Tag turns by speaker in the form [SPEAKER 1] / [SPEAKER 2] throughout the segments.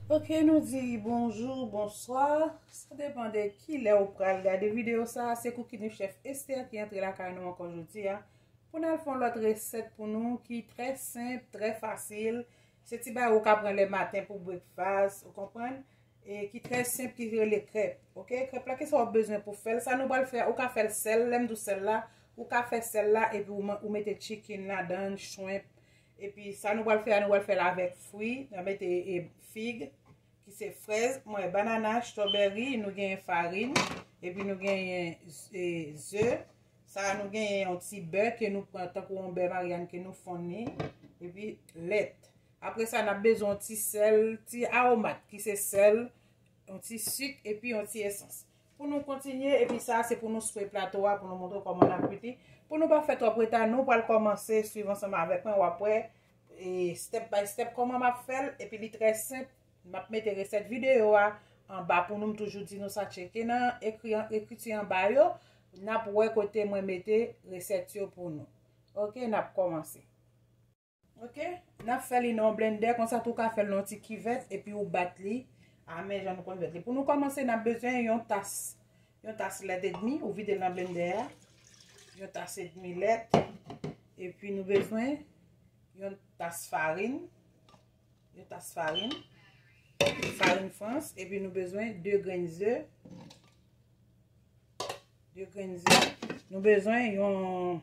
[SPEAKER 1] Ok nou di bonjou, bonswa, sa depan de ki lè ou pral gade videyo sa, se koukini chèf Esther ki antre la kay nou ankon jodi a, pou nan fon lòt resèt pou nou ki trè senp, trè fasil, se ti bay ou ka pran le maten pou breakfast, ou konprann? E ki trè senp ki rele krèp. Ok krèp la kisa wap bezwen pou fèl. Sa nou pral fè a ou ka fèl sèl. Lèm di w sèl la. Ou ka fè sèl la epi ou mete chicken ladan, shrimp. Epi sa nou pral fè a nou pral fèl avèk fwi. Nan mete fig. Ki se frèz. Mwen banana, strawberry. Nou genyen farin. Epi nou genyen ze. Sa a nou genyen yon ti bè ke nou pran. Tankou yon bè maryann ke nou fon ni. Epi lèt. Apre sa, n ap bezwen yon ti sèl, ti aromat ki se sèl, yon ti sik epi yon ti esans. Pou nou kontinye, epi sa se pou nou swe plato a pou nou montre kòman n ap kwit li. Pou nou pa fè twòp reta, nou pral kòmanse swiv ansanm avèk mwen, w ap wè step by step kòman m ap fè l. Epi li trè senp, m ap mete resèt videyo a anba pou nou, m toujou di nou sa, tcheke nan ekriti anba yo, n ap wè kote mwen mete resèt yo pou nou. Ok, n ap kòmanse. Ok nap fè li nan yon blendè konsa tou ka fè l nan yon ti kivèt epi ou bat li a men jan nou konn fè li pou nou kòmanse nap bezwen yon tas yon tas lèt edmi ou vide l nan blendè a yon tas edmi lèt epi nou bezwen yon tas farin yon tas farin farin frans epi nou bezwen 2 grenn ze 2 grenn ze nou bezwen yon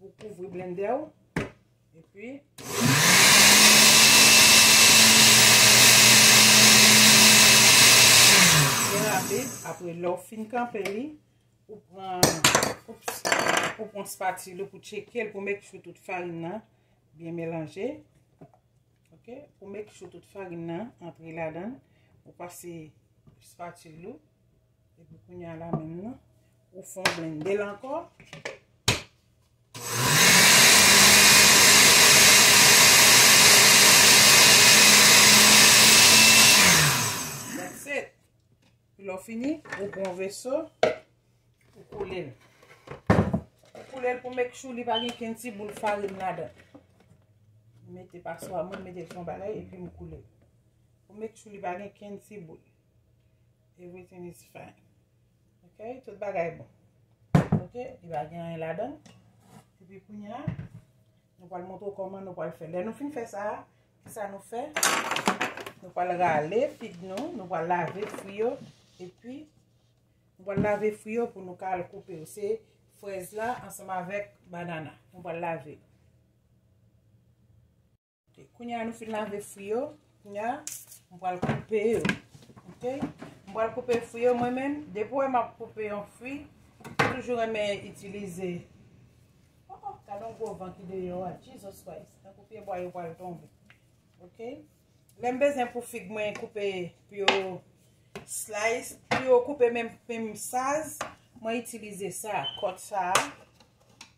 [SPEAKER 1] Epi ou kouvri blendè ou. Epi. Byen rapid. Apre lè ou fin kanpe li. Ou pran. Ou pran spatule pou tcheke l pou make sure tout farin nan byen melanje. Ok. Pou make sure tout farin nan antre ladan. Ou pase spatule ou. Epi kounye a la menm nan, ou fè w blende l ankò. Lò fini, ou pran yon veso, ou koule l. Ou koule l pou make sure li pa gen ken ti boul farin ladan. Mwen mete paswa mwen, mwen mete l sou yon bagay epi m koule l. Pou make sure li pa gen ken ti boul. Everything is fine. Ok, tout bagay bon. Ok, li va gen yon ladan. E pi koun ya, nou pal montre kouman nou pal fè. Lè nou fin fè sa, ki sa nou fè? Nou pal rale fig nou, nou pal lave fwi yo. E pi, nou pal lave fwi yo pou nou ka al koupe yo. Se frèz la ansanm avèk banana. Nou pal lave. Kounye a nou fin lave fwi yo. Kounye a, m pral koupe yo. Ok? M pral koupe fwi yo mwen menm. Depi wè m ap koupe yon fwi, m toujou renmen itilize. Oh oh, gade yon gwo van ki deyò a. Jesus Christ! Tankou pye bwa yo pral tonbe. Ok? Lè m bezwen pou fig mwen koupe pou yo slice, pou yo koupe menm saz, mwen itilize sa, kòt sa a.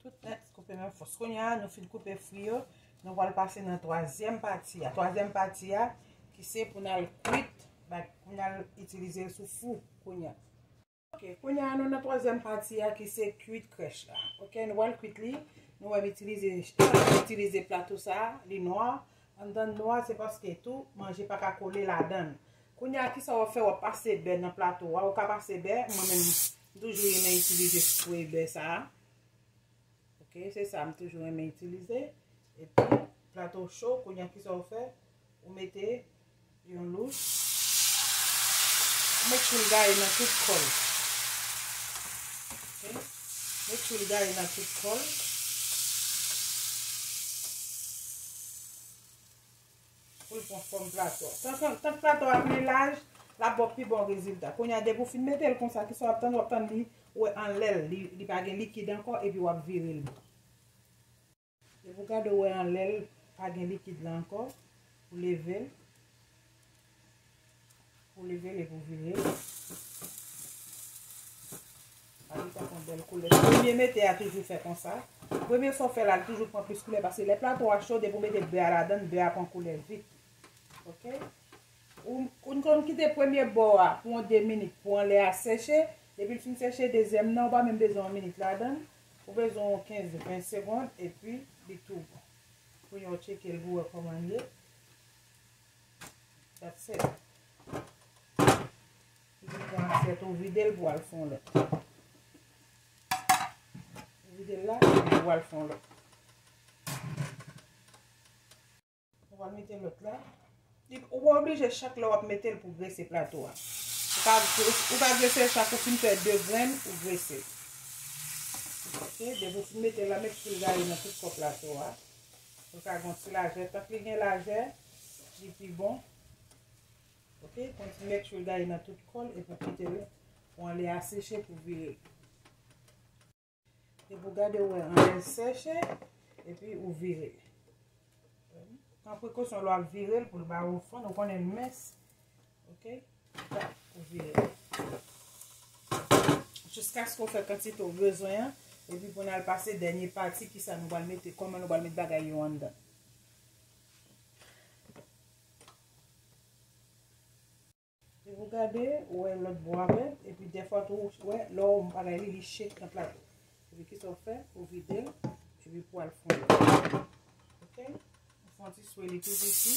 [SPEAKER 1] Tout nèt koupe nan fòs. Kounye a, nou fin koupe fwi yo. Nou wal pase nan twazyèm pati a. Twazyèm pati a, ki se pou nan kwit, pou nan itilize sou fou kounye a. Ok, kounye a nou nan twazyèm pati a ki se kwit krèch la. Ok, nou wal kwit li. Nou wèm itilize, itilize plato sa, li nwa. An dan nwa, se paske tou, manje pa ka kole la dan. Kounye a, ki sa wap fè wap pase bè nan plato a. Ou ka pase bè, mwen menm. M toujou renmen itilize spray bè sa. Ok, se sa m toujou renmen itilize. E pi, plato w cho, kounye a ki sa w fè? Ou mete yon louch. Ou make sure l gaye nan tout kò l. Ok, make sure l gaye nan tout kò l. Pou l pran fòm plato a. Tank plato a plen laj, l ap ba w pi bon rezilta. Kounye a depi w fin mete l konsa, kisa w ap tann? W ap tann li wè anlè l, li pa gen likid ankò epi w ap vire l. Depi w gade w wè anlè l pa gen likid la ankò, ou leve l. Pou leve le pou vire. A li fè kon bel koule. Premye mete a toujou fè konsa. Premye fò fè la toujou pran plis koule. Pase le plato a cho de pou mete bè a la dan. Bè a pran koule vit. Ok. Ou nou konn kite premye bò a pou an de minit. Pou an le a seche. Depi l fin seche dezyèm nan. Ou pa menm bezon an minit la dan. Ou bezon an 15-20 segond. E pi li tou bon. Pou yon tcheke l pou wè koman l ye. That's it. Vide yon asyèt ou vide l pou al fon lòt. Ou vide l la pou al fon lòt. Ou va mete lòt la. Ou pa oblije chak lè w ap mete l pou grese plato a. Ou ka grese l chak ou fin fè 2 grenn ou grese l. Ok, depi w fin mete l la met fil gari nan tout kò plato a. Nou ka gen yon ti lajè, tank li gen lajè li pi bon ok, pran ti mèch ou gaye nan tout kòl epi kitel pou anlè a seche pou virel epi gade ou wè anlè seche epi ou vire pran prekosyon lè wap virel poul ba ou fon, ou konnen mès Ok, ou vire. Jiska sko fè kantite ou bezwen an. E pi pou nan al pase dènye pati ki sa nou bal mete. Koman nou bal mete bagay yo an dan. E pou gade, ou wè lòt bò a vè. E pi defwa tou ou wè lò ou bagay li li che nan plato. E pi ki sa ou fè, ou vide. E pi pou al fon. Ok, ou fon ti swe li pi viti.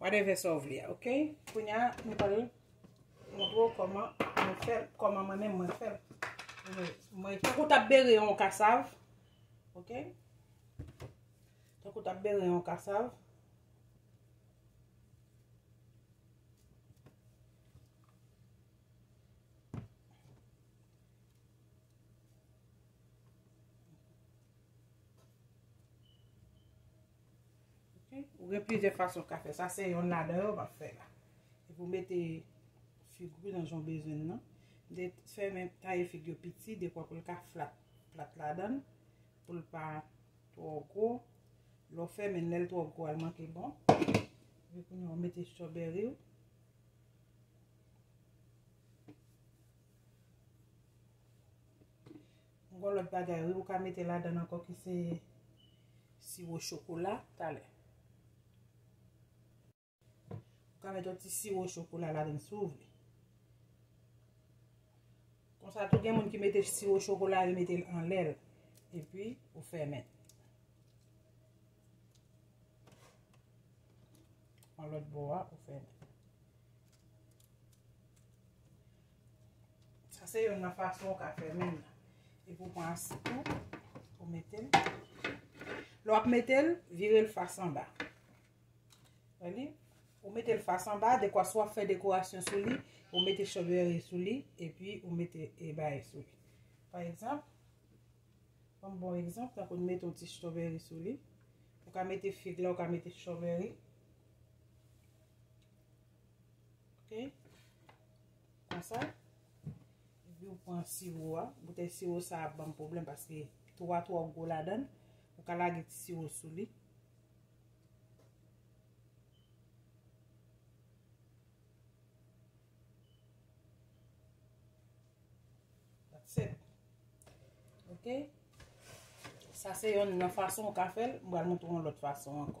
[SPEAKER 1] Whatever sa ou vle a ok. Kounya nou pral montre ou koman mwen fèl, koman mwen menm mwen fèl. Mwen tankou tap bere yon kasav. Ok. Tankou tap bere yon kasav. Ou gen plizyè fason ou ka fè sa, se yonn ladan yo map fè la. Epi ou mete fig ou nan jan ou bezwen nan. Mete fèmen taye fig yo piti dekwa pou l ka flat plat ladan, pou l pa twò gwo. Lè w fèmen l, lè l twò gwo al manke bon. Epi kounye a ou mete strawberry ou. M gon lòt bagay wi ou ka mete ladann ankò ki se siwo chokola talè. Ou ka mete yon ti siwo chokola ladann si ou vle. Konsa tou gen moun ki mete siwo chokola yo mete l anlè l. E pi ou fèmen. An lòt bo a ou fèmen. Sa se yon nan fason ou ka fè men nan. E pou pran asid tou, pou mete l. Lè w ap mete l, vire l fas an ba. Wè li? Ou mete l fas an ba, dekwa sou ap fè dekorasyon sou li, ou mete chòbèri sou li, epi ou mete e bay sou li. Pa egzanp, yon bon egzanp, ta pou nou mete yon ti chòbèri sou li. Ou ka mete fig la, ou ka mete chòbèri. Ok. Konsa. Epi ou pran siwo a. Boutèy siwo sa ap banm pwoblèm paske tou a twò gwo ladann. Ou ka lage ti siwo sou li. Ok. Sa se yon nan fason ou ka fèl. Mwen al moutou yon lòt fason ankò.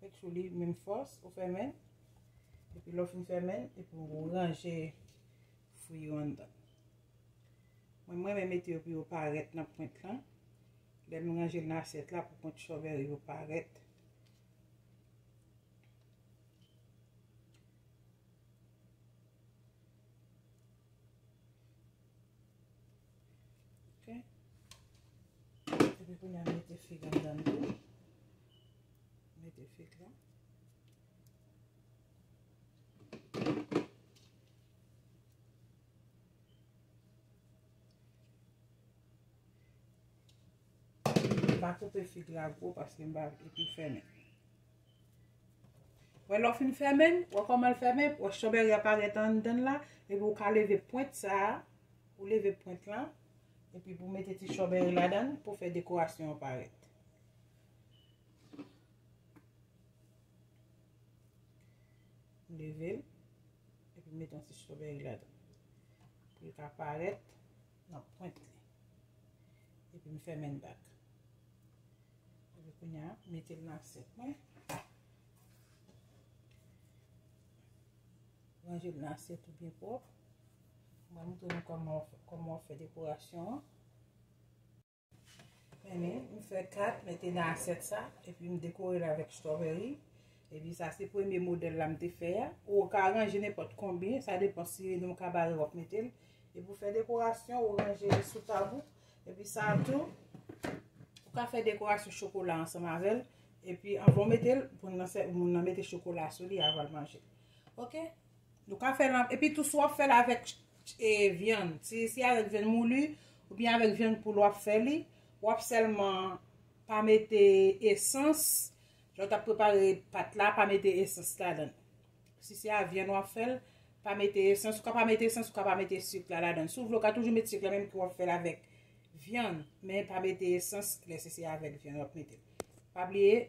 [SPEAKER 1] Make sure li menm fòs ou fèmen l. Epi lè w fin fèmen l, epi w ranje fwi yo anndan. Mwen m renmen mete yo pou yo parèt nan pwent lan. Lè nou ranje l nan asyèt la pou pwent chòbèri yo parèt. Epi kounye a m mete fig anndan l tou. Mete fig la. M pa koupe fig la gwo paske m pa vle pou l fèmen. Wè lè w fin fèmen, wè kòman l fèmen, wè strawberry a parèt anndan la, epi ou ka leve pwent sa a, ou leve pwent lan, epi pou mete ti strawberry ladan l pou fè dekorasyon an parèt. Leve l. Epi mete yon ti strawberry la dan. Pou li ka parèt nan pwent li. Epi m fèmen l bak. Epi kounye a, m mete l nan asyèt mwen. Ranje l nan asyèt ou byen pwòp. M ba nou tounen kòman w fè dekorasyon an. Meni, m fè 4, mete nan asyèt sa, epi m dekore l avèk strawberry. Epi sa se premye modèl la m te fè a. Ou ka ranje nenpòt konbyen, sa depan si li nan yon kabare w ap mete l. Epi ou fè dekorasyon, ou ranje li sou tab ou. Epi sa tou, ou ka fè dekorasyon chokola ansanm avè l. Epi anvan w mete l, moun nan mete chokola sou li avan l manje. Ok? Nou ka fèl an, epi tou si wap fèl avèk vyann, si avèk vyann mouli, ou byen avèk vyann poul wap fè li, wap sèlman pa mete esans, lè ou tap prepare pat la, pa mete esans ladan. Si se a vyann wap fèl, pa mete esans, ou ka pa mete esans, ou ka pa mete sik la ladan. Si w vle ou ka toujou mete sik la menm ke wap fèl avèk vyann, men pa mete esans lè se se avèk vyann wap mete. Pa bliye,